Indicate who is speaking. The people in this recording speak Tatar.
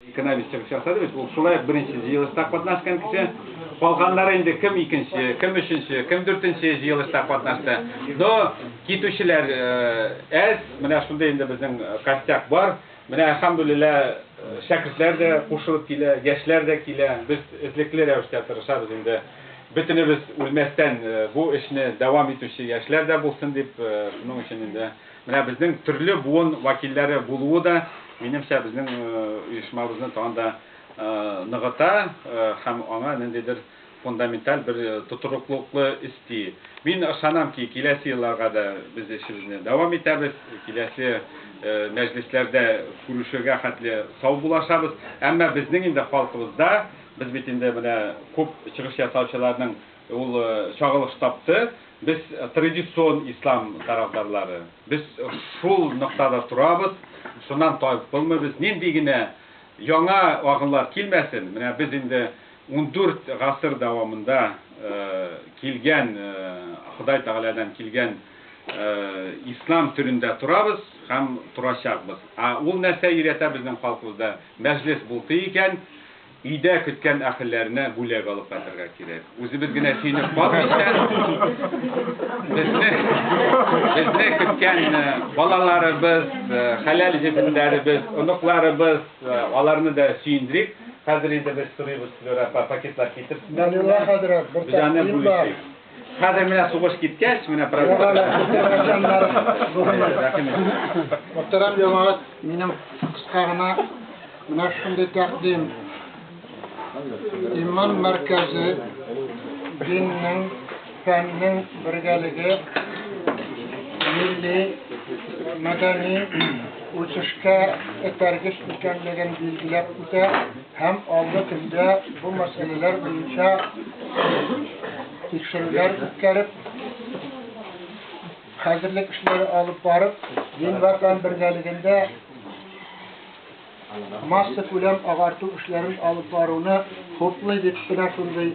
Speaker 1: Экономист чыгыш ясады бит, ул шулай ук беренче җыелышта катнашкан кеше. Калганнары инде кем икенче, кем өченче, кем дүртенче җыелышта катнашты. Но китүчеләр әз, менә шундый инде безнең костяк бар. Менә әлхәмдүлилла, шәкертләр дә кушылып килә, яшьләр дә килә. Без эзлекле рәвештә тырышабыз инде, бөтенебез үлмәстән бу эшне дәвам итүче яшьләр дә булсын дип, шуның өчен инде. Менә безнең төрле буын вәкилләре булуы да, минемчә, безнең оешмабызны тагын да ныгыта һәм аңа ниндидер фундаменталь бер тотрыклыкны өсти. Мин ышанам ки, киләсе елларга да без эшебезне дәвам итәбез, киләсе мәҗлесләрдә күрешергә хәтле сау булашабыз. Әмма безнең инде халкыбызда, без бит инде менә күп чыгыш ясаучыларның ул чагылыш тапты, Без традицион ислам тарафдарлары. Без шул ноктада торабыз, шуннан таеп булмыйбыз. Нинди генә яңа агымнар килмәсен, менә без инде ундүрт гасыр дәвамында килгән, Ходай Тәгаләдән килгән ислам төрендә торабыз һәм торачакбыз. Ә ул нәрсә өйрәтә безнең халкыбызда? Мәҗлес булты икән. Өйдә көткән әхелләренә бүләк алып кайтырга кирәк. Үзебез генә сөенеп калмыйча, безне, безне көткән э, балаларыбыз, э, хәләл җефеннәребез, оныкларыбыз, э, аларны да сөендерик. Хәзер инде без сорыйбыз, Флюра апа, пакетлар китерсеннәр. Данила хәзрәт, бер Бизаны тәкъдим бар. бүлешик. Хәзер менә сугыш киткәч, менә праздник.
Speaker 2: Мөхтәрәм җәмәгать, минем кыска гына менә шундый тәкъдим. Иман мәркәзе диннең, фәннең бергәлеге милли мәдәни үсешкә этәргеч икәнлеген билгеләп үтә. һәм алгы көндә бу мәсьәләләр буенча тикшерүләр үткәреп, хәзерлек эшләре алып барып, Ленвардан бергәлегендә масса күләм агарту эшләрен алып баруны хуплый дип кенә шундый